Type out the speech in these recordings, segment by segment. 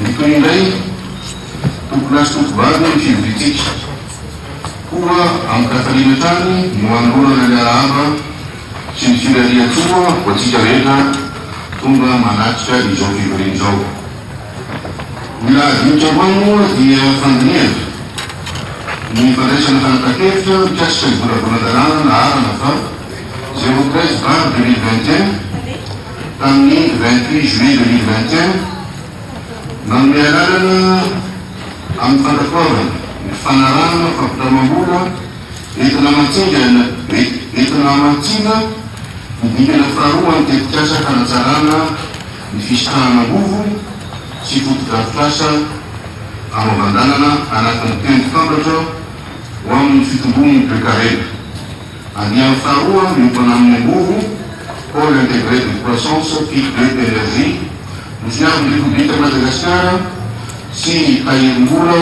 Ny toy indray, tompon'azy tovovavy ny fivoriantsika, koa amin-kafaliana hatrany no hanolorana ny arahaba sy ny firarian-tsoa ho antsika rehetra tonga manatrika izao fivoriana izao. Ny lahadinika voalohany moa dia fandinihana ny fandraisana fanapahan-kevitra mikasika ny volavolan-dalàna naharana fa zéro treize bar deux mille vingt et un, tamin'ny vingt huit juillet deux mille vingt et un, nanome alalana amin'ny fandratoavana ny fanarahana fampitramam-bola entina mantsingana entina hamantsiana ny dingana faharoa an'ny tetikasa hanatsarana ny fisitrahana angovo sy fotodrafitrasa hanaovan-dalana anatin'ny tendrom-pambatra ho amin'ny fitomboan'ny toekarena. Andiany faharoa miompana amin'ny angovo, Pôle Intégré de Croissance, PIC de Energie, ny Fiaron'ny Repoblikan'i Madagasikara sy ny Tahirimbola,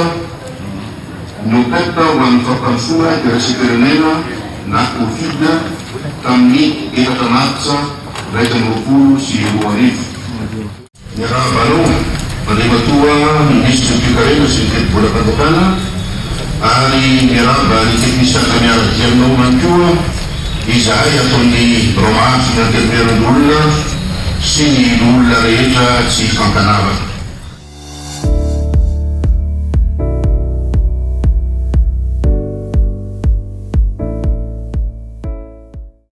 Nopep, ho an'ny Fampandrosoana Iraisam-pirenena na Covid tamin'ny efatra martsa iraika amby roapolo sy roa arivo. Miarahaba anao, Andriamatoa Minisitry ny Toekarena sy ny Tetibolam-panjakana, ary miarahaba ny teknisianina miara-dia aminao ihany koa izahay ato amin'ny Birao Mahazo ny Antenimierandoholona sy ny Loholona rehetra tsy fankanavaka.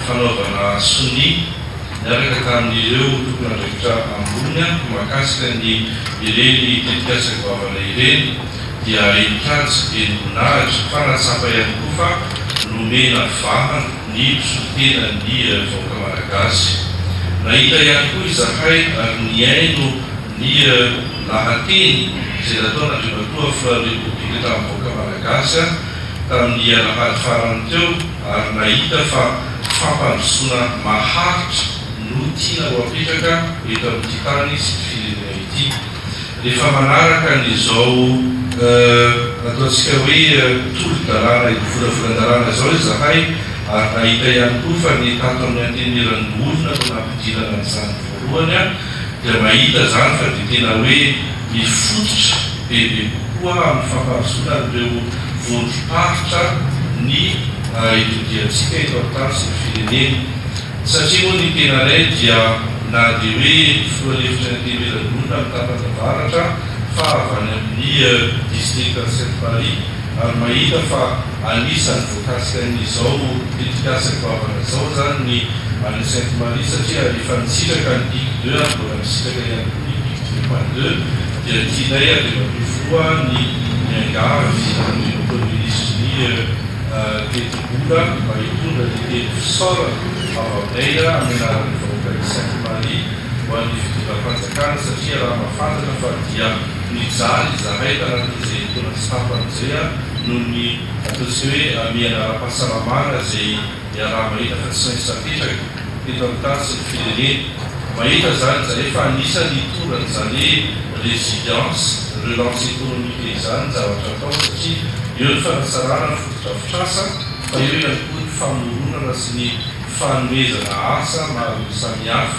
fanaovana sonia niaraka tamin'ireo tompon'andraikitra ambony mahakasika ny ireny tetikasa goavana ireny dia henin-kaja, henim-boninahitra fa nahatsapa ihany koa fa nomena vahana ny mpisolo tena ny vahoaka Malagasy. Nahita ihany koa izahay ary nihaino ny lahateny izay nataon'Andriamatoa Filohan'ny Repoblika tamin'ny vahoaka Malagasy tamin'ny alahady farany teo, ary nahita fa fampandrosoana maharitra no tiana ho apetraka eto amin'ity tany sy ity firenena ity. Rehefa manaraka an'izao ataontsika hoe tolo-dalàna ivolavolan-dalàna izao izahay ary nahita ihany koa fa ny tato amin'ny Antenimierandoholona no nampidirana an'izany voalohany, dia mahita izany fa dia tena hoe mifototra bebe kokoa amin'ny fampandrosoana an'ireo vondrom-paritra ny itodiantsika eto amin'ny tany sy ny firenena. Satria moa ny tenanay dia na dia hoe filoha lefitry ny Antenimierandoholona amin'ny tapany avaratra fa avy any amin'ny distrikan'i Sainte-Marie ary mahita fa anisan'ny Taxen izao tetikasa goavana izao izany ny Allo Sainte Marie satria efa nisitraka ny pic deux ary mbola misitraka ihany koa ny pic deux point deux dia tianay andriamatoa filoha ny miangavy an'ireo premier ministre ny tetibola mba hitondra ny teny fisaorana avy aminay amin'ny anaran'ny vahoakan'i Sainte Marie ho an'ny fitondram-panjakana satria raha mahafantatra fa dia nijaly izahay tanatin'izay taona sy tapany izay noho ny Atao tsy hoe hamehana ara-pahasalamana izay iaraha-mahita fa tsy maintsy napetraka teto amin'ny tany sy ny firenena. Mahita izany izahay fa anisan'ny hitoran'izany hoe résilience, relance économique izany ny zavatra atao satria eo ny fanatsarana ny fotodrafitrasa fa eo ihany koa ny famoronana sy ny fanomezana asa maro samihafa.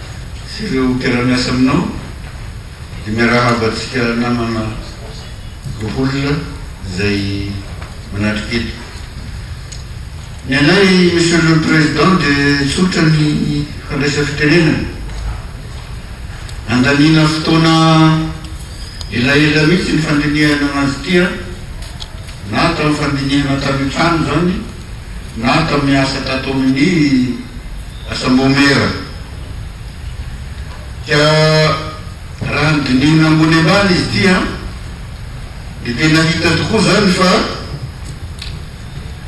sy ireo mpiara-miasa aminao dia miarahaba antsika namana roholona izay manatrika eto. Ny anay Monsieur le Président dia tsotra ny fandraisam-pitenenana. Nandaniana fotoana elaela mihitsy ny fandinihana anazy ity an, na tamin'ny fandinihana tany an-trano izany na tamin'ny asa tato amin'ny. Asa maomeera. Ka raha ny dinihina ambony ambany izy ity an, dia tena hita tokoa izany fa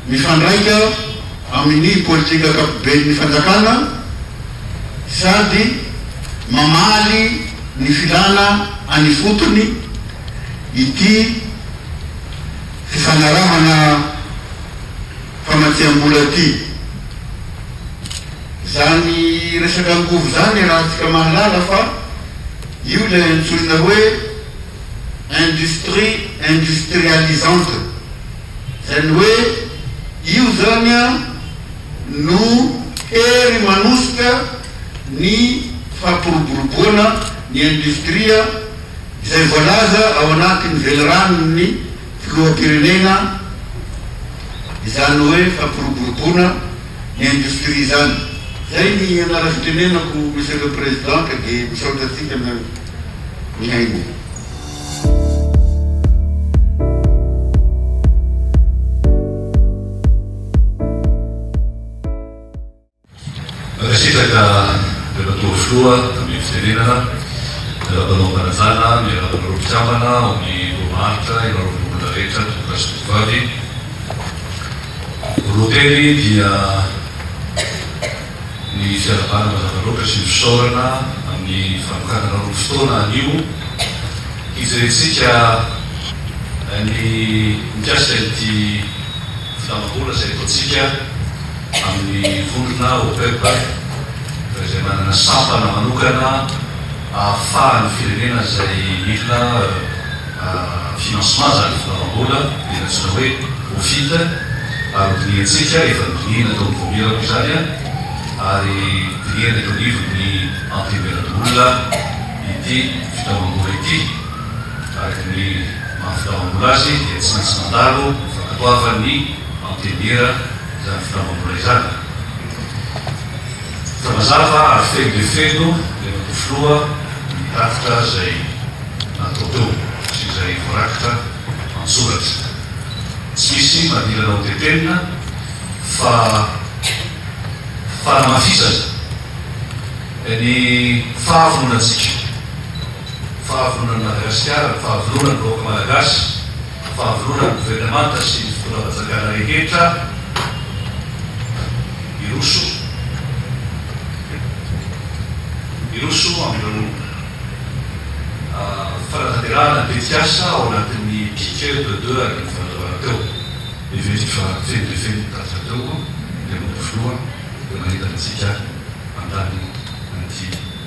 mifandraika amin'ny politika ankapoben'ny fanjakana sady mamaly ny filana any ifotony ity fifanarahana famatsiam-bola ty. Zany resaka angovo zany arahantsika mahalala fa io ilay antsoina hoe industrie industrialisante. Zany hoe io zany no hery manosika ny fampiroboroboana ny industria izay voalaza ao anatin'ny veliranon'ny. Filoham-pirenena, Izany hoe fampiroboroboana ny industrie izany. Zay ny anaram-pitenenako Monsieur le Président ka dia misaotra antsika mihaino. Mankasitraka Andriamatoa Filoha amin'ny fitenenana, miarahaba anao Mpanajana, miarahaba anareo mpikambana ao amin'ny Loholahatra, ianareo Loholona rehetra, Tompo-dahy sy Tompo-vavy. Roa teny dia ny fiarahabana mazava loatra sy ny fisaorana amin'ny fanokananareo ny fotoana anio hijerentsika ny mikasika ity Filamam-bola izay ataontsika amin'ny vondrona OPEP fa izay manana sampana manokana ahafahan'ny firenena izay mila financement izany filamam-bola dia ny antsoina hoe OFIT ary hodinihantsika, efa nodinihina tao amin'ny voamirako izany ary dinihana eto anivon'ny Antenimierandoholona ity filamam-bola ity. Araka ny maha fitaovam-bola azy dia tsy maintsy mandalo ny fankatoavan'ny antenimiera izany fitaovam-bola izany. Hita mazava ary feno dia feno ilay matoa filoha no nitatitra izay natao teo sy izay voarakitra an-tsoratra. Tsy misy madilana ho tetenina fa fanamafisana ny fahavononantsika. Fahavononan'ny Madagasikara, ny fahavononan'ny vahoaka Malagasy, ny fahavononan'ny governemanta sy ny fitondram-panjakana rehetra hiroso, hiroso amin'ireo fanatanterahana ny tetikasa ao anatin'ny Piquet de deux arivo fanazavana teo. Heveriko fa feno dia feno ny tatitra teo Andriamatoa Filoha, dia mahita antsika mandany an'ity.